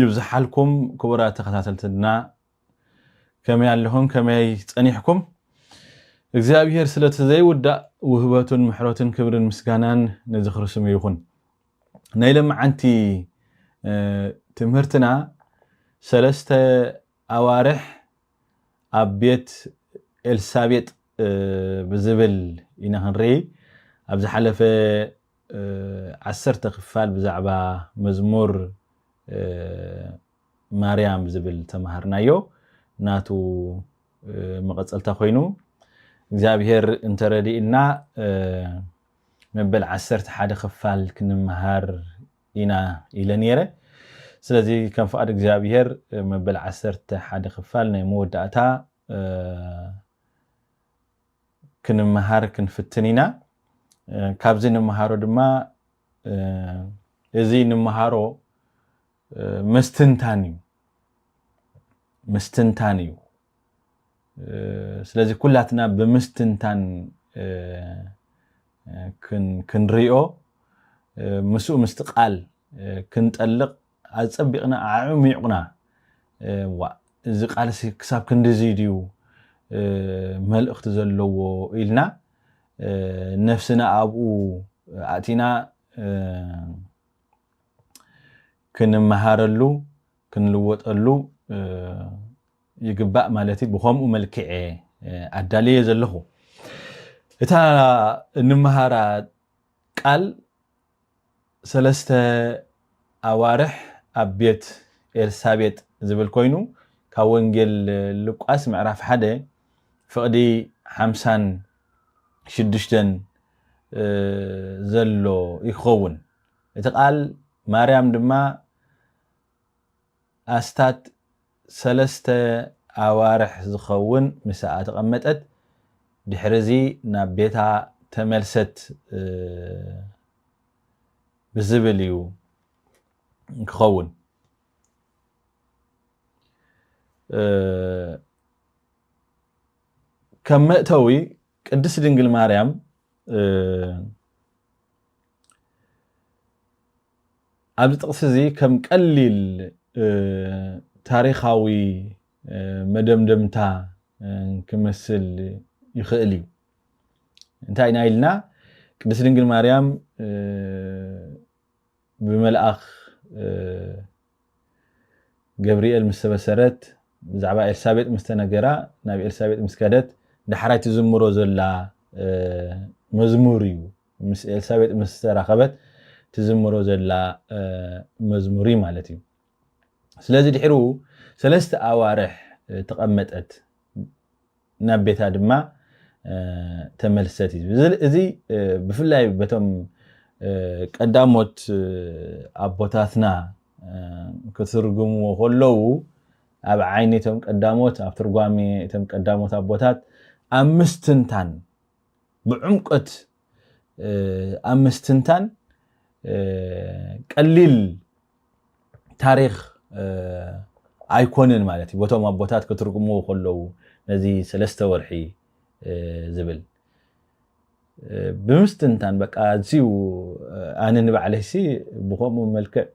ይብዝሓልኩም ክቡራት ተኸታተልትና ከመይ ኣለኹም ከመይ ጸኒሕኩም እግዚኣብሔር ስለቲ ዘይውዳእ ውህበቱን ምሕረቱን ክብርን ምስጋናን ንዝኽሪ ስሙ ይኹን ናይ ለመዓንቲ ትምህርትና ሰለስተ ኣዋርሕ ኣብ ቤት ኤልሳቤጥ ብዝብል ኢና ክንርኢ። ኣብ ዝሓለፈ ዓሰርተ ክፋል ብዛዕባ መዝሙር ማርያም ዝብል ዝተማሃርናዮ ናቱ መቐጸልታ ኮይኑ እግዚኣብሔር እንተረዲእና መበል ዓሰርተ ሓደ ክፋል ክንመሃር ኢና ኢለ ነይረ። ስለዚ ከም ፍቓድ እግዚኣብሄር መበል ዓሰርተ ሓደ ክፋል ናይ መወዳእታ ክንመሃር ክንፍትን ኢና። ካብዚ ንመሃሮ ድማ እዚ ንመሃሮ ምስትንታን እዩ ምስትንታን እዩ ስለዚ ኩላትና ብምስትንታን ክንሪኦ ምስኡ ምስቲ ቃል ክንጠልቕ ኣጸቢቕና ኣዕሚቑና ዋእ እዚ ቃልሲ ክሳብ ክንዲዚ ድዩ መልእኽቲ ዘለዎ ኢልና ነፍስና ኣብኡ ኣእቲና ክንመሃረሉ ክንልወጠሉ ይግባእ ማለት እዩ። ብኸምኡ መልክዕ እየ ኣዳልየዮ ዘለኹ። እታ እንመሃራ ቃል ሰለስተ ኣዋርሕ ኣብ ቤት ኤልሳቤጥ ዝብል ኮይኑ ካብ ወንጌል ሉቃስ ምዕራፍ ሓደ ፍቕዲ ሓምሳን ሽዱሽተን ዘሎ ይኸውን። እቲ ቃል ማርያም ድማ ኣስታት ሰለስተ ኣዋርሕ ዝኸውን ምሳኣ ተቐመጠት፣ ድሕሪዚ ናብ ቤታ ተመልሰት ብዝብል እዩ ክኸውን። ከም መእተዊ ቅድስት ድንግል ማርያም ኣብዚ ጥቕሲ እዚ ከም ቀሊል ታሪኻዊ መደምደምታ ክመስል ይኽእል እዩ። እንታይ ኢና ኢልና ቅድስት ድንግል ማርያም ብመልኣኽ ገብርኤል ምስ ተበሰረት ብዛዕባ ኤልሳቤጥ ምስ ተነገራ ናብ ኤልሳቤጥ ምስ ከደት ዳሕራይ ትዝምሮ ዘላ መዝሙር እዩ ምስ ኤልሳቤጥ ምስ ተራኸበት ትዝምሮ ዘላ መዝሙር እዩ ማለት እዩ ስለዚ ድሕሩ ሰለስተ ኣዋርሕ ተቐመጠት ናብ ቤታ ድማ ተመልሰት እዩ ዝብል እዚ ብፍላይ በቶም ቀዳሞት ኣቦታትና ክትርጉምዎ ከለዉ ኣብ ዓይኒ እቶም ቀዳሞት ኣብ ትርጓሜ እቶም ቀዳሞት ኣቦታት ኣብ ምስትንታን ብዕምቆት ኣብ ምስትንታን ቀሊል ታሪኽ ኣይኮንን ማለት እዩ ቦቶም ኣቦታት ክትርጉምዎ ከለዉ ነዚ ሰለስተ ወርሒ ዝብል ብምስትንታን በቃ እዚዩ ኣነ ንባዕለይሲ ብከምኡ መልክዕ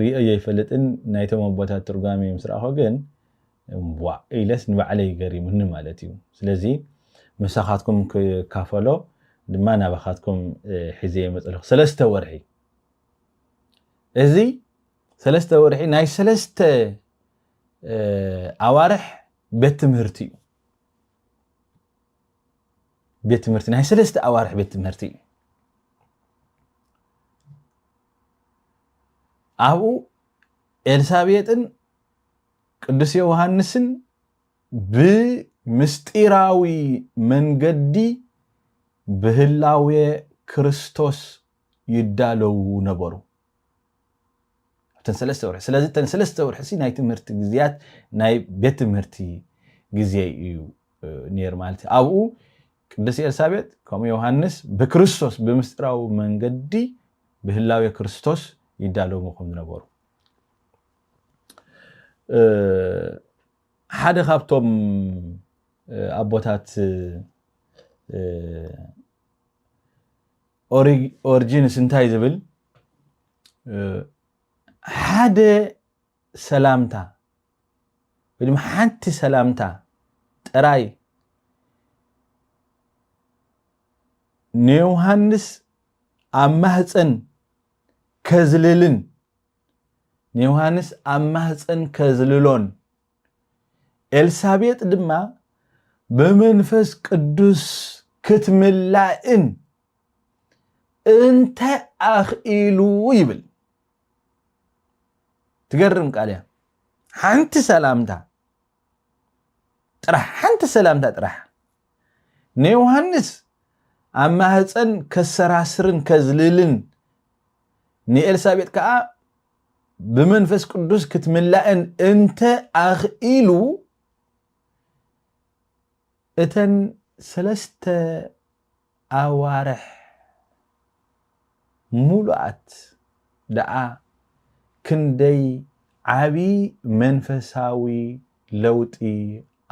ሪኦ ዘይፈልጥን ናይቶም ኣቦታት ትርጓሜ ምስ ረኣኹ ግን ዋእ ኢለስ ንባዕለይ ገሪሙኒ ማለት እዩ ስለዚ ምሳኻትኩም ክካፈሎ ድማ ናባኻትኩም ሒዘ መፀለኹ ሰለስተ ወርሒ እዚ ሰለስተ ወርሒ ናይ ሰለስተ ኣዋርሕ ቤት ትምህርቲ እዩ ቤት ትምህርቲ ናይ ሰለስተ ኣዋርሕ ቤት ትምህርቲ እዩ ኣብኡ ኤልሳቤጥን ቅዱስ ዮሃንስን ብምስጢራዊ መንገዲ ብህላዌ ክርስቶስ ይዳለዉ ነበሩ። ኣብተን ሰለስተ ወርሒ ስለዚ እተን ሰለስተ ወርሒ ሲ ናይ ትምህርቲ ግዜያት ናይ ቤት ትምህርቲ ግዜ እዩ ነይሩ ማለት እዩ ኣብኡ ቅድስት ኤልሳቤጥ ከምኡ ዮሃንስ ብክርስቶስ ብምስጢራዊ መንገዲ ብህላዌ ክርስቶስ ይዳለዉ ከም ዝነበሩ ሓደ ካብቶም ኣቦታት ኦሪጂንስ እንታይ ዝብል ሓደ ሰላምታ ወይ ድማ ሓንቲ ሰላምታ ጥራይ ንዮሃንስ ኣብ ማህፀን ከዝልልን ንዮሃንስ ኣብ ማህፀን ከዝልሎን ኤልሳቤጥ ድማ ብመንፈስ ቅዱስ ክትምላእን እንታይ ኣኽኢሉ ይብል ትገርም ቃል እያ ሓንቲ ሰላምታ ጥራሕ ሓንቲ ሰላምታ ጥራሕ ንዮሃንስ ኣብ ማህፀን ከሰራስርን ከዝልልን ንኤልሳቤጥ ከዓ ብመንፈስ ቅዱስ ክትምላእን እንተ ኣኽኢሉ እተን ሰለስተ ኣዋርሕ ሙሉኣት ደኣ ክንደይ ዓቢ መንፈሳዊ ለውጢ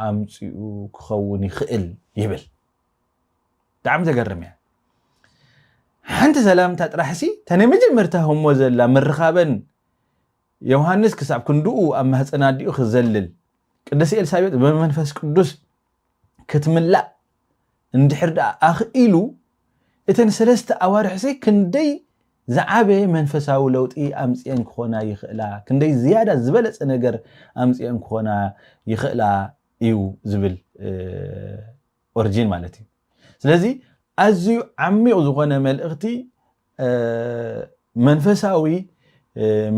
ኣምጺኡ ክኸውን ይኽእል ይብል። ብጣዕሚ ተገርም እያ ሓንቲ ሰላምታ ጥራሕሲ እታ ናይ መጀመርታ ህሞ ዘላ ምርኻበን ዮሃንስ ክሳብ ክንድኡ ኣብ ማህፀን ኣዲኡ ክዘልል ቅድስቲ ኤልሳቤጥ ብመንፈስ ቅዱስ ክትምላእ እንድሕር ደኣ ኣኽኢሉ እተን ሰለስተ ኣዋርሕሲ ክንደይ ዝዓበየ መንፈሳዊ ለውጢ ኣምፅኤን ክኾና ይኽእላ ክንደይ ዝያዳ ዝበለፀ ነገር ኣምፅኤን ክኾና ይኽእላ እዩ ዝብል ኦርጂን ማለት እዩ ስለዚ ኣዝዩ ዓሚቕ ዝኾነ መልእኽቲ መንፈሳዊ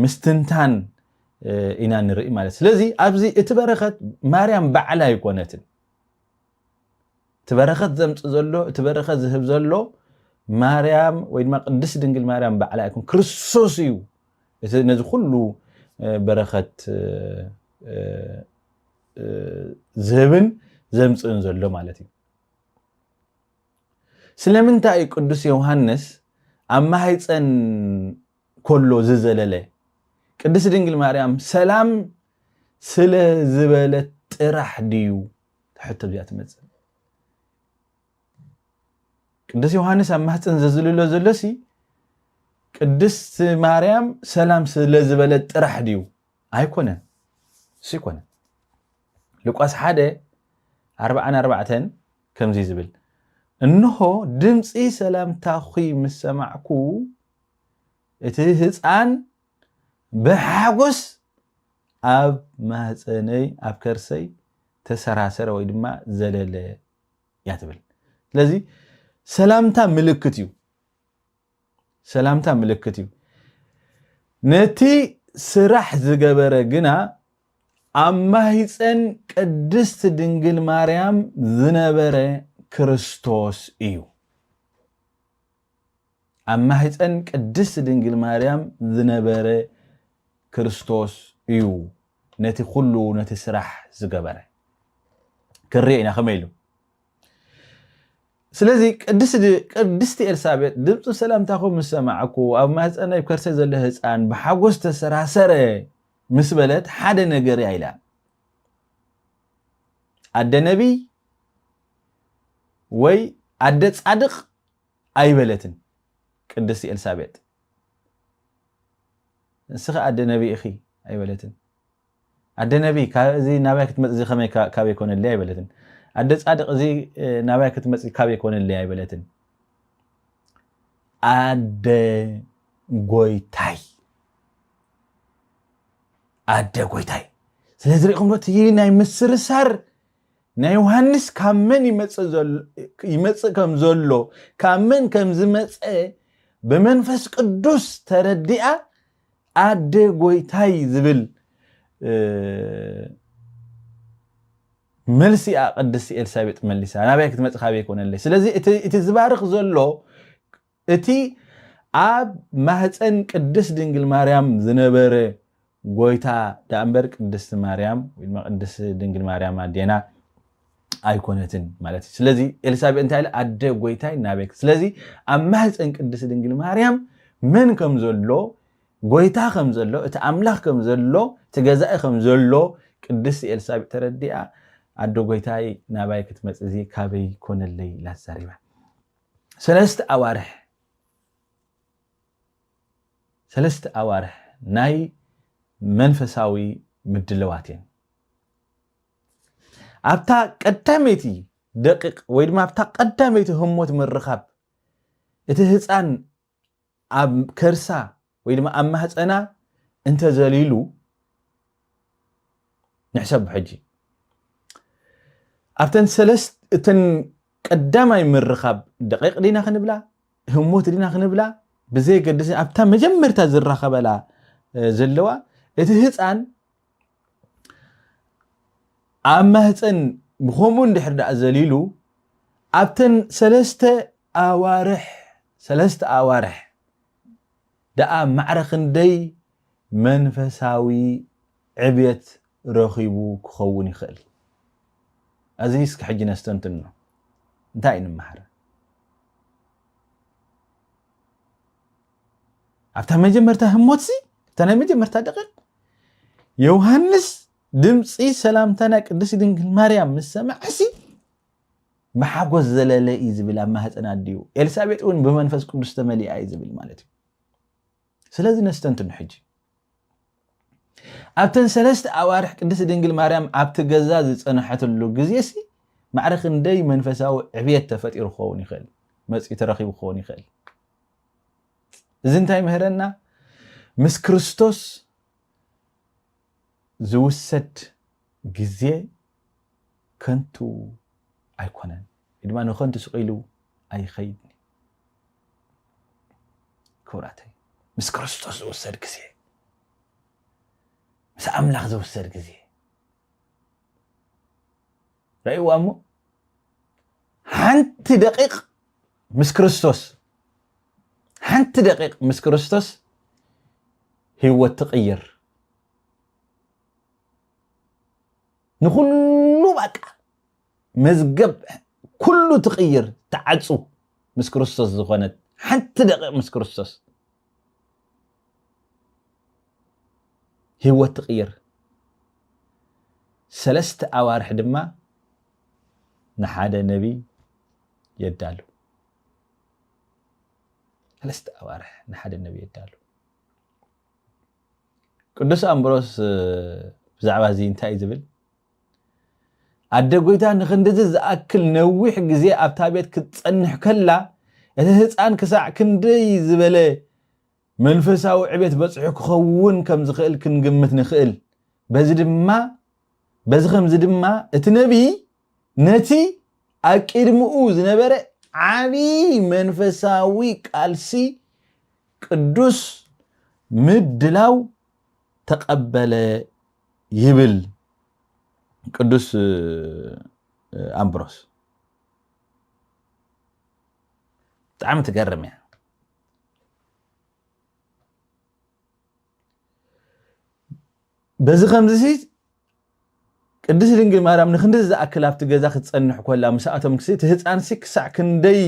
ምስትንታን ኢና ንርኢ ማለት ስለዚ ኣብዚ እቲ በረኸት ማርያም ባዕላ ኣይኮነትን እቲ በረኸት ዘምፅ ዘሎ እቲ በረኸት ዝህብ ዘሎ ማርያም ወይ ድማ ቅድስት ድንግል ማርያም ባዕላ ኣይኮን ክርስቶስ እዩ እቲ ነዚ ኩሉ በረኸት ዝህብን ዘምፅእን ዘሎ ማለት እዩ። ስለምንታይ እዩ ቅዱስ ዮሃንስ ኣብ ማህፀን ኮሎ ዝዘለለ? ቅድስት ድንግል ማርያም ሰላም ስለ ዝበለት ጥራሕ ድዩ? ትሕቶ እዚኣ ትመፅእ። ቅዱስ ዮሃንስ ኣብ ማህፀን ዘዝልሎ ዘሎሲ ቅድስት ማርያም ሰላም ስለ ዝበለት ጥራሕ ድዩ? ኣይኮነን እሱ ኣይኮነን ልቋስ ሓደ ኣርብዓን ኣርባዕተን ከምዚ ዝብል እንሆ ድምፂ ሰላምታኺ ምስ ሰማዕኩ እቲ ህፃን ብሓጎስ ኣብ ማህፀነይ ኣብ ከርሰይ ተሰራሰረ ወይ ድማ ዘለለ እያ ትብል ስለዚ ሰላምታ ምልክት እዩ ሰላምታ ምልክት እዩ። ነቲ ስራሕ ዝገበረ ግና ኣብ ማህፀን ቅድስት ድንግል ማርያም ዝነበረ ክርስቶስ እዩ። ኣብ ማህፀን ቅድስት ድንግል ማርያም ዝነበረ ክርስቶስ እዩ ነቲ ኩሉ ነቲ ስራሕ ዝገበረ። ክንሪኦ ኢና ከመይ ኢሉ ስለዚ ቅድስቲ ኤልሳቤጥ ድምፂ ሰላምታኹም ምስ ሰማዕኩ ኣብ ማህፀነይ ኣብ ከርሰይ ዘሎ ህፃን ብሓጎስ ተሰራሰረ ምስ በለት ሓደ ነገር እያ ኢላ ኣደ ነቢይ ወይ ኣደ ፃድቕ ኣይበለትን ቅድስቲ ኤልሳቤጥ ንስኺ ኣደ ነቢይ ኢኺ ኣይበለትን ኣደ ነቢ ካብ እዚ ናባይ ክትመጽ እዚ ከመይ ካበይ ኮነለይ ኣይበለትን ኣደ ጻድቅ እዚ ናባይ ክትመጽ ካበይ ኮነለይ ኣይበለትን ኣደ ጎይታይ ኣደ ጎይታይ ስለዚ ሪኢኹም ዶ እቲ ናይ ምስርሳር ናይ ዮሃንስ ካብ መን ይመጽእ ከም ዘሎ ካብ መን ከም ዝመጸ ብመንፈስ ቅዱስ ተረዲኣ ኣደ ጎይታይ ዝብል መልሲ እያ ቅድስቲ ኤልሳቤጥ መሊሳ ናበይ ክትመፅ ካበይ ኮነለይ ስለዚ እቲ ዝባርኽ ዘሎ እቲ ኣብ ማህፀን ቅድስት ድንግል ማርያም ዝነበረ ጎይታ ዳእምበር ቅድስቲ ማርያም ወይ ድማ ቅድስቲ ድንግል ማርያም ኣዴና ኣይኮነትን ማለት እዩ ስለዚ ኤልሳቤጥ እንታይ ኢለ ኣደ ጎይታይ ናበይ ስለዚ ኣብ ማህፀን ቅድስቲ ድንግል ማርያም መን ከም ዘሎ ጎይታ ከም ዘሎ እቲ ኣምላኽ ከም ዘሎ እቲ ገዛኢ ከም ዘሎ ቅድስቲ ኤልሳቤጥ ተረዲኣ ኣደ ጎይታይ ናባይ ክትመፅ እዚ ካበይ ኮነለይ ኢላ ተዛሪባ ሰለስተ ኣዋርሕ ሰለስተ ኣዋርሕ ናይ መንፈሳዊ ምድለዋት እየን ኣብታ ቀዳመይቲ ደቂቕ ወይ ድማ ኣብታ ቀዳመይቲ ህሞት ምርኻብ እቲ ህፃን ኣብ ከርሳ ወይ ድማ ኣብ ማህፀና እንተዘሊሉ ንሕሰብ ሕጂ ኣብተን ሰለስት እተን ቀዳማይ ምርኻብ ደቂቕ ዲና ክንብላ ህሞት ዲና ክንብላ ብዘየገድስ ኣብታ መጀመርታ ዝራኸበላ ዘለዋ እቲ ህፃን ኣብ ማህፀን ብከምኡ እንድሕር ደኣ ዘሊሉ ኣብተን ሰለስተ ኣዋርሕ ሰለስተ ኣዋርሕ ደኣ ማዕረ ክንደይ መንፈሳዊ ዕብየት ረኺቡ ክኸውን ይኽእል? እዚ እስኪ ሕጂ ነስተንትኖ። እንታይ ንመሃር? ኣብታ መጀመርታ ህሞትሲ እታ ናይ መጀመርታ ደቂቕ ዮውሃንስ ድምጺ ሰላምታ ናይ ቅድስቲ ድንግል ማርያም ምስ ሰምዐሲ ብሓጎስ ዘለለ እዩ ዝብል ኣብ ማህፀን ኣዲኡ ኤልሳቤጥ እውን ብመንፈስ ቅዱስ ተመሊኣ እዩ ዝብል ማለት እዩ ስለዚ ነስተንትኑ ሕጂ ኣብተን ሰለስተ ኣዋርሕ ቅድስቲ ድንግል ማርያም ኣብቲ ገዛ ዝፀንሐትሉ ግዜሲ ማዕረ ክንደይ መንፈሳዊ ዕብየት ተፈጢሩ ክኸውን ይኽእል መፂኡ ተረኺቡ ክኸውን ይኽእል እዚ እንታይ ይምህረና? ምስ ክርስቶስ ዝውሰድ ግዜ ከንቱ ኣይኮነን፣ ወይ ድማ ንከንቱ ስቕ ኢሉ ኣይኸይድን እዩ። ክቡራተይ ምስ ክርስቶስ ዝውሰድ ግዜ፣ ምስ ኣምላኽ ዝውሰድ ግዜ ርእይዋ እሞ ሓንቲ ደቂቕ ምስ ክርስቶስ ሓንቲ ደቂቕ ምስ ክርስቶስ ህይወት ትቕይር ንኹሉ ባቃ መዝገብ ኩሉ ትቕይር ትዓፁ ምስ ክርስቶስ ዝኾነት ሓንቲ ደቂቕ ምስ ክርስቶስ ህይወት ትቕይር። ሰለስተ ኣዋርሕ ድማ ንሓደ ነቢይ የዳሉ። ሰለስተ ኣዋርሕ ንሓደ ነቢይ የዳሉ። ቅዱስ ኣምብሮስ ብዛዕባ እዚ እንታይ እዩ ዝብል? ኣደ ጐይታ ንኽንድዚ ዝኣክል ነዊሕ ግዜ ኣብታ ቤት ክትጸንሕ ከላ፣ እቲ ህጻን ክሳዕ ክንደይ ዝበለ መንፈሳዊ ዕቤት በጺሑ ክኸውን ከም ዝኽእል ክንግምት ንኽእል። በዚ ድማ በዚ ኸምዚ ድማ እቲ ነብዪ ነቲ ኣብ ቅድሚኡ ዝነበረ ዓቢ መንፈሳዊ ቃልሲ ቅዱስ ምድላው ተቐበለ ይብል ቅዱስ ኣምብሮስ ብጣዕሚ ትገርም እያ በዚ ከምዚ ቅድስት ድንግል ማርያም ንክንዲ ዝኣክል ኣብቲ ገዛ ክትፀንሕ ኮላ ምስኣቶም ክሲ እቲ ህፃን ሲ ክሳዕ ክንደይ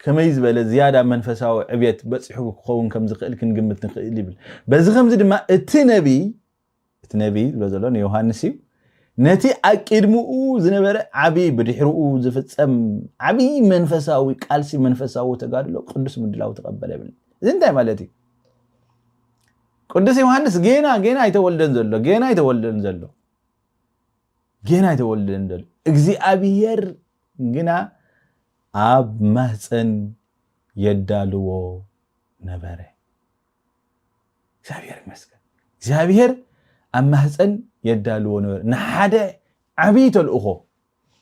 ከመይ ዝበለ ዝያዳ መንፈሳዊ ዕብየት በፂሑ ክኸውን ከም ዝኽእል ክንግምት ንኽእል ይብል በዚ ከምዚ ድማ እቲ ነቢይ እቲ ነቢይ ዝብሎ ዘሎ ንዮሃንስ እዩ። ነቲ ኣቂድምኡ ዝነበረ ዓብይ ብድሕርኡ ዝፍጸም ዓብይ መንፈሳዊ ቃልሲ መንፈሳዊ ተጋድሎ ቅዱስ ምድላው ተቐበለ ይብል። እዚ እንታይ ማለት እዩ? ቅዱስ ዮሃንስ ጌና ጌና ኣይተወልደን ዘሎ ጌና ኣይተወልደን ዘሎ ጌና ኣይተወልደን ዘሎ እግዚኣብሔር ግና ኣብ ማህፀን የዳልዎ ነበረ። እግዚኣብሔር ይመስገን እግዚኣብሔር ኣብ ማህፀን የዳልዎ ነበር ንሓደ ዓብይ ተልእኾ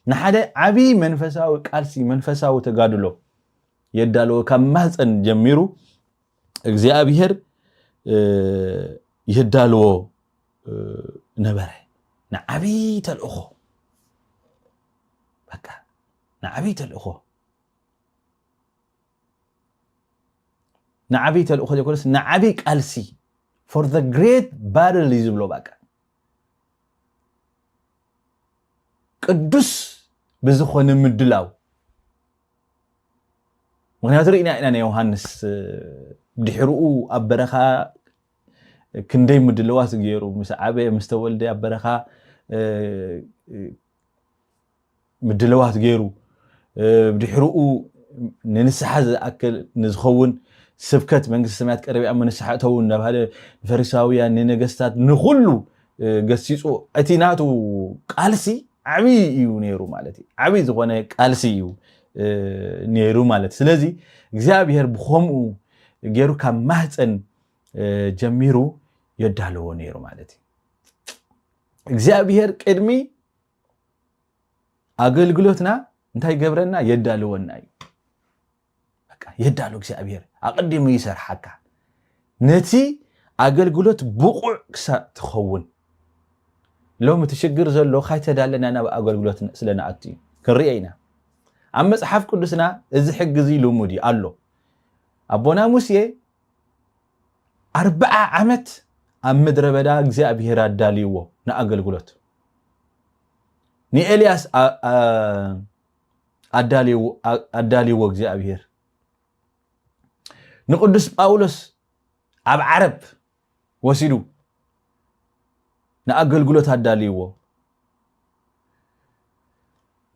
ንሓደ ዓብይ መንፈሳዊ ቃልሲ መንፈሳዊ ተጋድሎ የዳልዎ ካብ ማህፀን ጀሚሩ እግዚኣብሔር የዳልዎ ነበረ ንዓብይ ተልእኾ በቃ ንዓብይ ተልእኾ ንዓብይ ተልእኾ ዘይኮነስ ንዓብይ ቃልሲ ፎር ዘ ግሬት ባትል እዩ ዝብሎ ባቃ ቅዱስ ብዝኾነ ምድላው ምክንያቱ ርኢና ኢና ናይ ዮሃንስ ድሕርኡ ኣብ በረኻ ክንደይ ምድለዋት ገይሩ ምስ ዓበየ ምስ ተወልደ ኣብ በረኻ ምድልዋት ገይሩ ድሕርኡ ንንስሓ ዝኣክል ንዝኸውን ስብከት መንግስቲ ሰማያት ቀረብ እያ ንስሓ እተው እናበሃለ ንፈሪሳውያን ንነገስታት ንኹሉ ገሲጹ እቲ ናቱ ቃልሲ ዓብዪ እዩ ነይሩ ማለት እዩ ዓብዪ ዝኾነ ቃልሲ እዩ ነይሩ ማለት ስለዚ እግዚኣብሔር ብኸምኡ ገይሩ ካብ ማህፀን ጀሚሩ የዳለዎ ነይሩ ማለት እዩ እግዚኣብሔር ቅድሚ ኣገልግሎትና እንታይ ገብረና የዳልወና እዩ የዳሉ እግዚኣብሔር ኣቐዲሙ ይሰርሓካ ነቲ ኣገልግሎት ብቑዕ ክሳእ ትኸውን ሎሚ እቲ ሽግር ዘሎ ካይተዳለና ናብ ኣገልግሎት ስለንኣቱ እዩ ክንርኦ ኢና ኣብ መፅሓፍ ቅዱስና እዚ ሕጊ እዚ ልሙድ እዩ ኣሎ ኣቦና ሙሴ ኣርብዓ ዓመት ኣብ ምድረ በዳ እግዚኣብሄር ኣዳልይዎ ንኣገልግሎት ንኤልያስ ኣዳልይዎ እግዚኣብሄር ንቅዱስ ጳውሎስ ኣብ ዓረብ ወሲዱ ንኣገልግሎት ኣዳልይዎ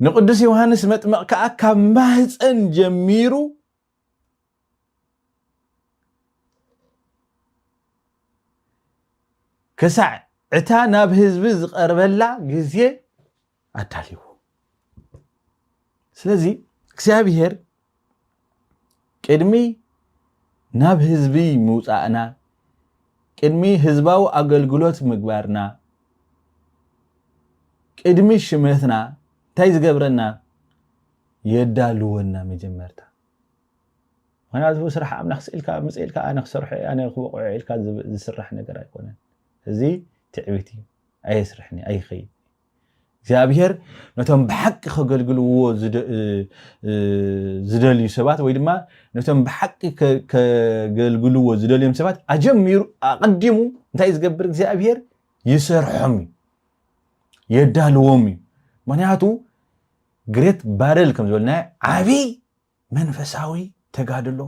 ንቅዱስ ዮሃንስ መጥመቕ ከዓ ካብ ማህፀን ጀሚሩ ክሳዕ እታ ናብ ህዝቢ ዝቐርበላ ግዜ ኣዳልዎ ስለዚ እግዚኣብሄር ቅድሚ ናብ ህዝቢ ምውፃእና ቅድሚ ህዝባዊ ኣገልግሎት ምግባርና ቅድሚ ሽመትና እንታይ ዝገብረና የዳልወና መጀመርታ ምክንያቱ ስራሕ ኣምላኽ ስኢልካ ምጽ ኢልካ ኣነ ክሰርሖ እየ ኣነ ክበቕዖ ኢልካ ዝስራሕ ነገር ኣይኮነን እዚ ትዕቢት እዩ ኣየስርሕኒ ኣይኸይድ እግዚኣብሄር ነቶም ብሓቂ ከገልግልዎ ዝደልዩ ሰባት ወይ ድማ ነቶም ብሓቂ ከገልግልዎ ዝደልዮም ሰባት ኣጀሚሩ ኣቐዲሙ እንታይ ዝገብር እግዚኣብሄር ይሰርሖም እዩ የዳልዎም እዩ ምክንያቱ ግሬት ባርል ከም ዝበልናዮ ዓብይ መንፈሳዊ ተጋድሎ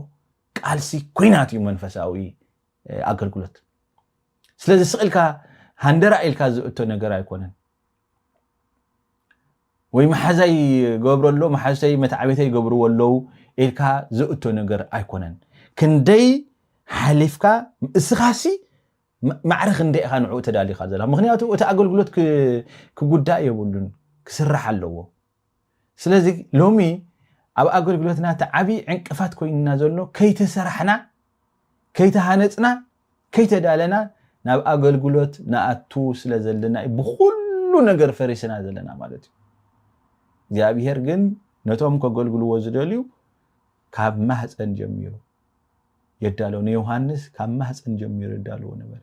ቃልሲ ኩናት እዩ መንፈሳዊ ኣገልግሎት ስለዚ ስቕ ኢልካ ሃንደራ ኢልካ ዝእቶ ነገር ኣይኮነን ወይ መሓዛይ ገብሮ ኣሎ መሓዝተይ መትዓቤተይ ይገብርዎ ኣለው ኢልካ ዘእቶ ነገር ኣይኮነን ክንደይ ሓሊፍካ እስኻሲ ማዕረ ክንደይ ኢኻ ንዕኡ ተዳሊኻ ዘለኻ ምኽንያቱ እቲ ኣገልግሎት ክጉዳእ የብሉን ክስራሕ ኣለዎ ስለዚ ሎሚ ኣብ ኣገልግሎትና እቲ ዓብዪ ዕንቅፋት ኮይንና ዘሎ ከይተሰራሕና ከይተሃነፅና ከይተዳለና ናብ ኣገልግሎት ንኣቱ ስለ ዘለና እዩ ብኩሉ ነገር ፈሪስና ዘለና ማለት እዩ እግዚኣብሄር ግን ነቶም ከገልግልዎ ዝደልዩ ካብ ማህፀን ጀሚሩ የዳለዉ ንዮሃንስ ካብ ማህፀን ጀሚሩ የዳለዎ ነበረ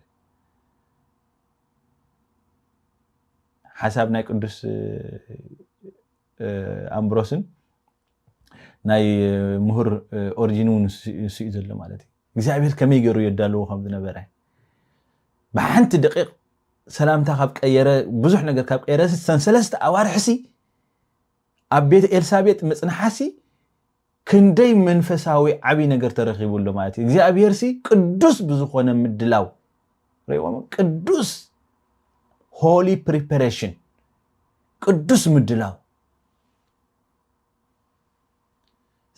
ሓሳብ ናይ ቅዱስ ኣምብሮስን ናይ ምሁር ኦሪጂን እውን ንስኡ ዘሎ ማለት እዩ እግዚኣብሔር ከመይ ገይሩ የዳለዎ ከም ዝነበረ ብሓንቲ ደቂቕ ሰላምታ ካብ ቀየረ ብዙሕ ነገር ካብ ቀየረ ሰን ሰለስተ ኣዋርሕሲ ኣብ ቤት ኤልሳቤጥ ምፅንሓሲ ክንደይ መንፈሳዊ ዓብይ ነገር ተረኺቡ ኣሎ ማለት እዩ። እግዚኣብሄርሲ ቅዱስ ብዝኾነ ምድላው ሪእዎም ቅዱስ ሆሊ ፕሪፐሬሽን ቅዱስ ምድላው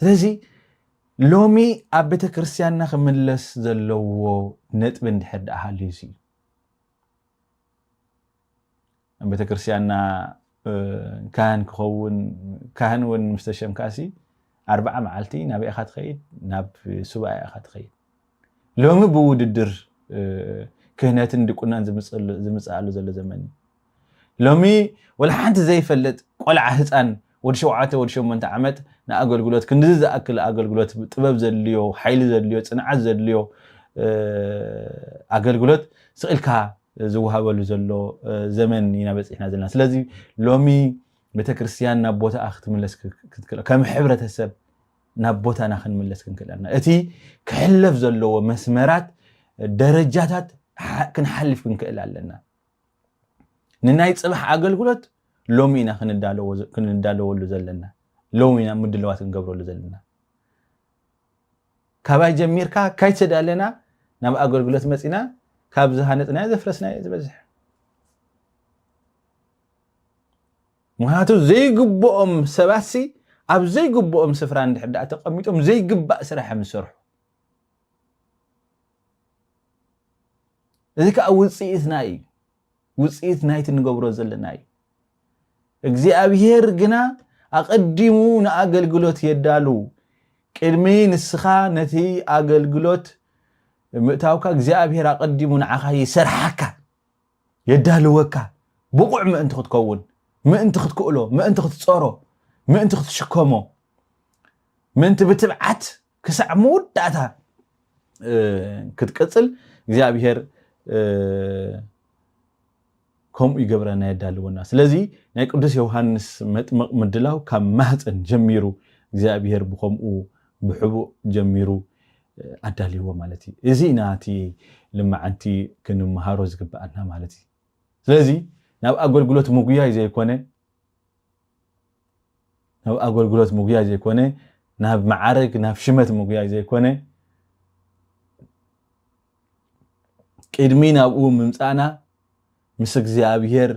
ስለዚ ሎሚ ኣብ ቤተ ክርስትያንና ክምለስ ዘለዎ ነጥቢ እንድሕር ደኣ ሃልዩ እዩ ኣብ ቤተክርስቲያንና ካህን ክኸውን ካህን እውን ምስ ተሸምካሲ ኣርብዓ መዓልቲ ናበይ ኢኻ ትኸይድ? ናብ ሱባኤ ኢኻ ትኸይድ። ሎሚ ብውድድር ክህነትን ድቁናን ዝምፅኣሉ ዘሎ ዘመን እዩ። ሎሚ ወላ ሓንቲ ዘይፈልጥ ቆልዓ ህፃን ወዲ ሸውዓተ ወዲ ሸሞንተ ዓመት ንኣገልግሎት ክንድዚ ዝኣክል ኣገልግሎት ጥበብ ዘድልዮ ሓይሊ ዘድልዮ ጽንዓት ዘድልዮ ኣገልግሎት ስቅ ኢልካ ዝወሃበሉ ዘሎ ዘመን ኢና በጺሕና ዘለና ስለዚ ሎሚ ቤተክርስትያን ናብ ቦታኣ ክትምለስ ክትክእል ከም ሕብረተሰብ ናብ ቦታና ክንምለስ ክንክእል ኣለና እቲ ክሕለፍ ዘለዎ መስመራት ደረጃታት ክንሓልፍ ክንክእል ኣለና ንናይ ጽባሕ ኣገልግሎት ሎሚ ኢና ክንዳለወሉ ዘለና ሎሚ ኢና ምድለዋት ክንገብረሉ ዘለና ካባይ ጀሚርካ ካይተዳለና ናብ ኣገልግሎት መፂና ካብ ዝሃነፅናዮ ዘፍረስናዮ ዝበዝሕ ምክንያቱ ዘይግብኦም ሰባትሲ ኣብ ዘይግብኦም ስፍራ እንድሕር ዳኣ ተቐሚጦም ዘይግባእ ስራሕ እዮም ዝሰርሑ እዚ ከዓ ውፅኢትና እዩ ውፅኢት ናይቲ ንገብሮ ዘለና እዩ እግዚኣብሄር ግና ኣቐዲሙ ንኣገልግሎት የዳሉ ቅድሚ ንስኻ ነቲ ኣገልግሎት ምእታውካ እግዚኣብሄር ኣቐዲሙ ንዓኻ ይሰርሓካ የዳልወካ ብቑዕ ምእንቲ ክትከውን ምእንቲ ክትክእሎ ምእንቲ ክትፀሮ ምእንቲ ክትሽከሞ ምእንቲ ብትብዓት ክሳዕ መወዳእታ ክትቅፅል እግዚኣብሔር ከምኡ ይገብረና የዳልወና ስለዚ ናይ ቅዱስ ዮሃንስ መጥምቕ ምድላው ካብ ማህፀን ጀሚሩ እግዚኣብሔር ብከምኡ ብሕቡእ ጀሚሩ ኣዳልዎ ማለት እዩ እዚ ኢና እቲ ልማዓንቲ ክንምሃሮ ዝግብኣና ማለት እዩ ስለዚ ናብ ኣገልግሎት ምጉያይ ዘይኮነ ናብ ኣገልግሎት ምጉያይ ዘይኮነ ናብ መዓርግ ናብ ሽመት ምጉያይ ዘይኮነ ቅድሚ ናብኡ ምምፃእና ምስ እግዚኣብሔር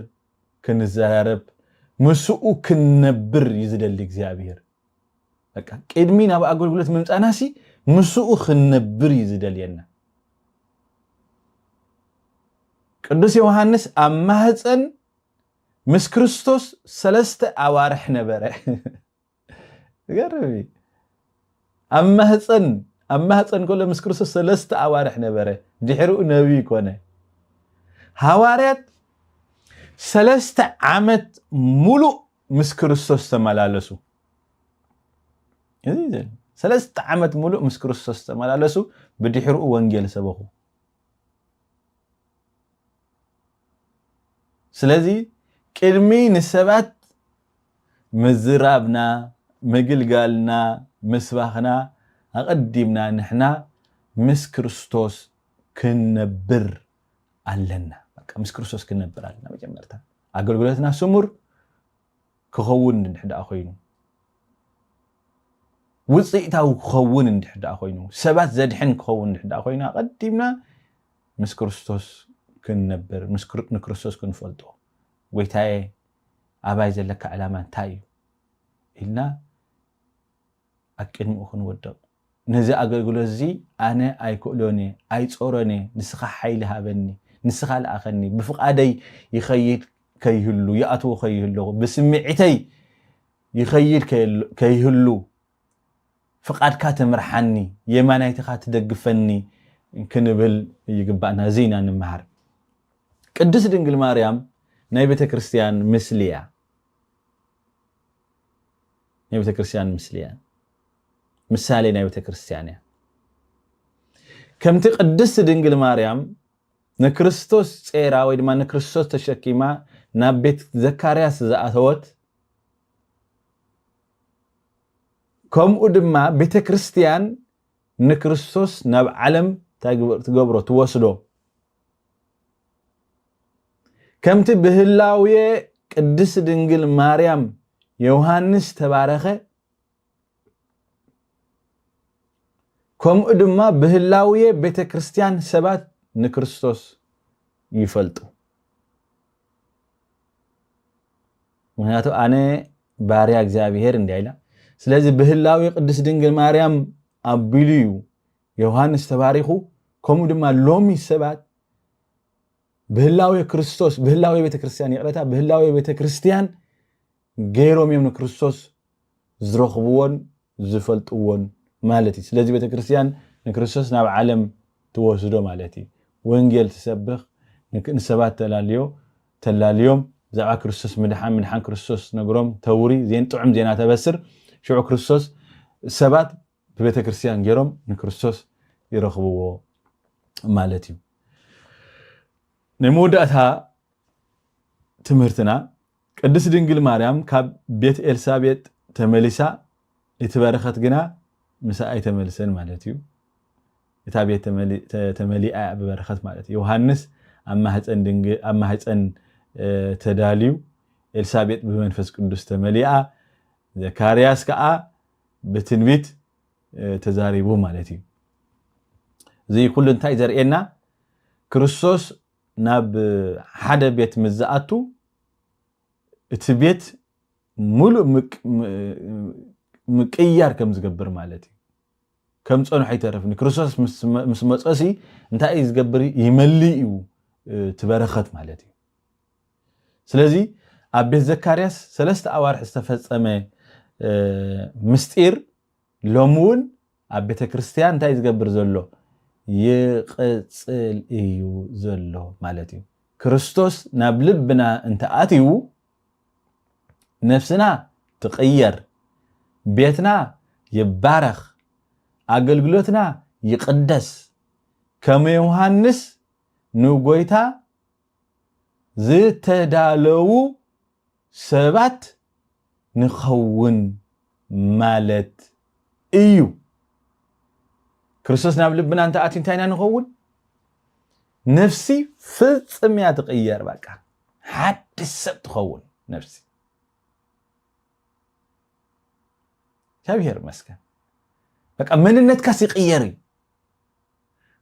ክንዘራረብ ምስኡ ክንነብር እዩ ዝደሊ እግዚኣብሔር በቃ ቅድሚ ናብ ኣገልግሎት ምምፃእና ሲ ምስኡ ክንነብር እዩ ዝደልየና ቅዱስ ዮሃንስ ኣብ ማህፀን ምስ ክርስቶስ ሰለስተ ኣዋርሕ ነበረ። ዝገርም እዩ። ኣብ ማህፀን ኣብ ማህፀን ከሎ ምስ ክርስቶስ ሰለስተ ኣዋርሕ ነበረ። ድሕሪኡ ነቢይ ኮነ። ሃዋርያት ሰለስተ ዓመት ሙሉእ ምስ ክርስቶስ ተመላለሱ። ሰለስተ ዓመት ሙሉእ ምስ ክርስቶስ ተመላለሱ። ብድሕሪኡ ወንጌል ሰበኹ። ስለዚ ቅድሚ ንሰባት ምዝራብና፣ ምግልጋልና፣ ምስባኽና ኣቐዲምና ንሕና ምስ ክርስቶስ ክንነብር ኣለና። በቃ ምስ ክርስቶስ ክንነብር ኣለና መጀመርታ። ኣገልግሎትና ስሙር ክኸውን እንድሕር ደኣ ኮይኑ፣ ውጽኢታዊ ክኸውን እንድሕር ደኣ ኮይኑ፣ ሰባት ዘድሕን ክኸውን እንድሕር ደኣ ኮይኑ፣ ኣቐዲምና ምስ ክርስቶስ ክንነብር፣ ንክርስቶስ ክንፈልጦ፣ ጎይታየ ኣባይ ዘለካ ዕላማ እንታይ እዩ ኢልና፣ ኣብ ቅድሚኡ ክንወድቕ። ነዚ ኣገልግሎት'ዚ ኣነ ኣይክእሎን እየ፣ ኣይጾሮን እየ፣ ንስኻ ሓይሊ ሃበኒ፣ ንስኻ ልኣኸኒ፣ ብፍቓደይ ይኸይድ ከይህሉ፣ ይኣትዎ ከይህልኹ፣ ብስምዒተይ ይኸይድ ከይህሉ፣ ፍቓድካ ትምርሓኒ፣ የማናይትኻ ትደግፈኒ ክንብል ይግባእና። እዚ ኢና ንመሃር። ቅድስት ድንግል ማርያም ናይ ቤተ ክርስቲያን ምስሊ እያ። ናይ ቤተ ክርስቲያን ምስሊ እያ ምሳሌ ናይ ቤተ ክርስቲያን እያ ከምቲ ቅድስቲ ድንግል ማርያም ንክርስቶስ ጼራ ወይ ድማ ንክርስቶስ ተሸኪማ ናብ ቤት ዘካርያስ ዝኣተወት ከምኡ ድማ ቤተ ክርስቲያን ንክርስቶስ ናብ ዓለም ትገብሮ ትወስዶ ከምቲ ብህላዌ ቅድስት ድንግል ማርያም ዮሃንስ ተባረኸ ከምኡ ድማ ብህላዌ ቤተ ክርስቲያን ሰባት ንክርስቶስ ይፈልጡ ምክንያቱ ኣነ ባርያ እግዚኣብሄር እንዲያ ኢላ ስለዚ ብህላዌ ቅድስት ድንግል ማርያም ኣቢሉ እዩ ዮሃንስ ተባሪኹ ከምኡ ድማ ሎሚ ሰባት ብህላዌ ክርስቶስ ብህላዌ ቤተ ክርስቲያን ይቕረታ ብህላዌ ቤተ ክርስቲያን ገይሮም እዮም ንክርስቶስ ዝረኽብዎን ዝፈልጥዎን ማለት እዩ ስለዚ ቤተ ክርስቲያን ንክርስቶስ ናብ ዓለም ትወስዶ ማለት እዩ ወንጌል ትሰብኽ ንሰባት ተላልዮ ተላልዮም ብዛዕባ ክርስቶስ ምድሓን ምድሓን ክርስቶስ ነግሮም ተውሪ ዜን ጥዑም ዜና ተበስር ሽዑ ክርስቶስ ሰባት ብቤተ ክርስትያን ገይሮም ንክርስቶስ ይረኽብዎ ማለት እዩ። ናይ መወዳእታ ትምህርትና ቅድስት ድንግል ማርያም ካብ ቤት ኤልሳቤጥ ተመሊሳ እቲ በረኸት ግና ምሳ ኣይተመልሰን ማለት እዩ። እታ ቤት ተመሊኣ እያ ብበረኸት ማለት እዩ። ዮሃንስ ኣብ ማህፀን ተዳልዩ ኤልሳቤጥ ብመንፈስ ቅዱስ ተመሊኣ ዘካርያስ ከዓ ብትንቢት ተዛሪቡ ማለት እዩ። እዚ ኩሉ እንታይ ዘርእየና ክርስቶስ ናብ ሓደ ቤት ምስ ዝኣቱ እቲ ቤት ሙሉእ ምቅያር ከም ዝገብር ማለት እዩ። ከም ፀንሖ ይተርፍኒ ክርስቶስ ምስ መፀሲ እንታይ እዩ ዝገብር ይመልእ እዩ እቲ በረኸት ማለት እዩ። ስለዚ ኣብ ቤት ዘካርያስ ሰለስተ ኣዋርሕ ዝተፈጸመ ምስጢር ሎሚ እውን ኣብ ቤተ ክርስቲያን እንታይ እዩ ዝገብር ዘሎ? ይቕጽል እዩ ዘሎ ማለት እዩ። ክርስቶስ ናብ ልብና እንተኣትዩ ነፍስና ትቕየር፣ ቤትና ይባረኽ፣ ኣገልግሎትና ይቕደስ፣ ከም ዮሃንስ ንጎይታ ዝተዳለዉ ሰባት ንኸውን ማለት እዩ። ክርስቶስ ናብ ልብና እንተኣትዩ እንታይ ኢና ንኸውን? ነፍሲ ፍጽም እያ ትቕየር። በቃ ሓድሽ ሰብ ትኸውን ነፍሲ። እግዚኣብሔር ይመስገን። በቃ መንነትካስ ይቕየር እዩ።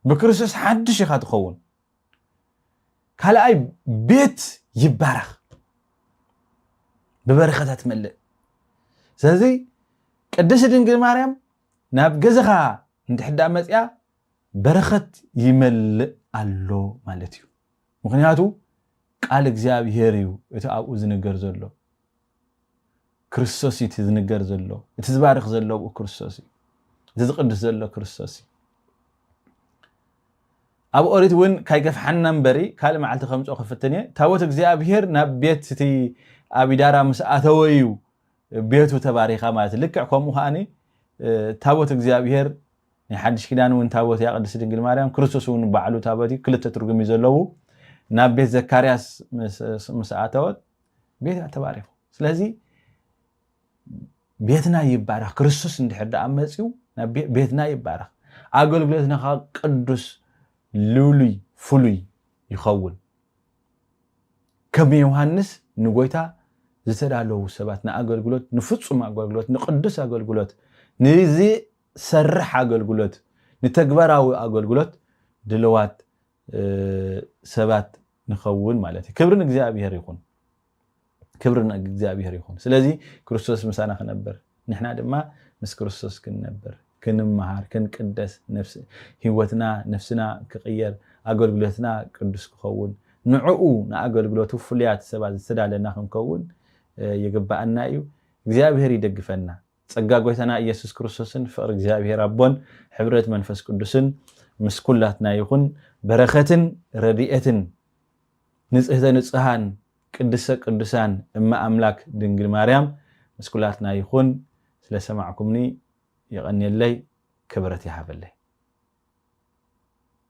ብክርስቶስ ሓድሽ ኢኻ ትኸውን። ካልኣይ ቤት ይባረኽ ብበረኸታት መልእ ስለዚ ቅድስቲ ድንግል ማርያም ናብ ገዛኻ እንድሕዳ መፅያ በረኸት ይመልእ ኣሎ ማለት እዩ ምክንያቱ ቃል እግዚኣብሄር እዩ እቲ ኣብኡ ዝንገር ዘሎ ክርስቶስ እዩ እቲ ዝንገር ዘሎ እቲ ዝባርኽ ዘሎ ኣብኡ ክርስቶስ እዩ እቲ ዝቕድስ ዘሎ ክርስቶስ እዩ ኣብ ኦሪት እውን ካይገፍሓና እምበሪ ካልእ መዓልቲ ከምፅኦ ክፍትን እየ ታቦት እግዚኣብሄር ናብ ቤት እቲ ኣቢዳራ ምስ ኣተወ እዩ ቤቱ ተባሪኻ ማለት እዩ ልክዕ ከምኡ ከዓኒ ታቦት እግዚኣብሄር ናይ ሓድሽ ኪዳን እውን ታቦት እያ ቅድስቲ ድንግል ማርያም ክርስቶስ እውን ባዕሉ ታቦት እዩ ክልተ ትርጉም እዩ ዘለዉ ናብ ቤት ዘካርያስ ምስ ኣተወት ቤት እያ ተባሪኹ ስለዚ ቤትና ይባረኽ ክርስቶስ እንድሕር ደኣ መፅኡ ቤትና ይባረኽ ኣገልግሎትና ከዓ ቅዱስ ልሉይ ፍሉይ ይኸውን ከም ዮሃንስ ንጎይታ ዝተዳለዉ ሰባት ንኣገልግሎት ንፍፁም ኣገልግሎት ንቅዱስ ኣገልግሎት ንዝሰርሕ ኣገልግሎት ንተግባራዊ ኣገልግሎት ድልዋት ሰባት ንኸውን ማለት እዩ ክብሪ ንእግዚኣብሔር ይኹን ክብሪ ንእግዚኣብሔር ይኹን ስለዚ ክርስቶስ ምሳና ክነብር ንሕና ድማ ምስ ክርስቶስ ክንነብር ክንመሃር ክንቅደስ ህይወትና ነፍስና ክቕየር ኣገልግሎትና ቅዱስ ክኸውን ንዕኡ ንኣገልግሎቱ ፍሉያት ሰባት ዝተዳለና ክንከውን ይግባኣና እዩ እግዚኣብሔር ይደግፈና ጸጋ ጎይታና ኢየሱስ ክርስቶስን ፍቕሪ እግዚኣብሔር ኣቦን ሕብረት መንፈስ ቅዱስን ምስ ኩላትና ይኹን በረኸትን ረድኤትን ንጽህተ ንጹሃን ቅድስተ ቅዱሳን እመ ኣምላክ ድንግል ማርያም ምስ ኩላትና ይኹን ስለ ሰማዕኩምኒ የቐንየለይ ክብረት ይሃበለይ።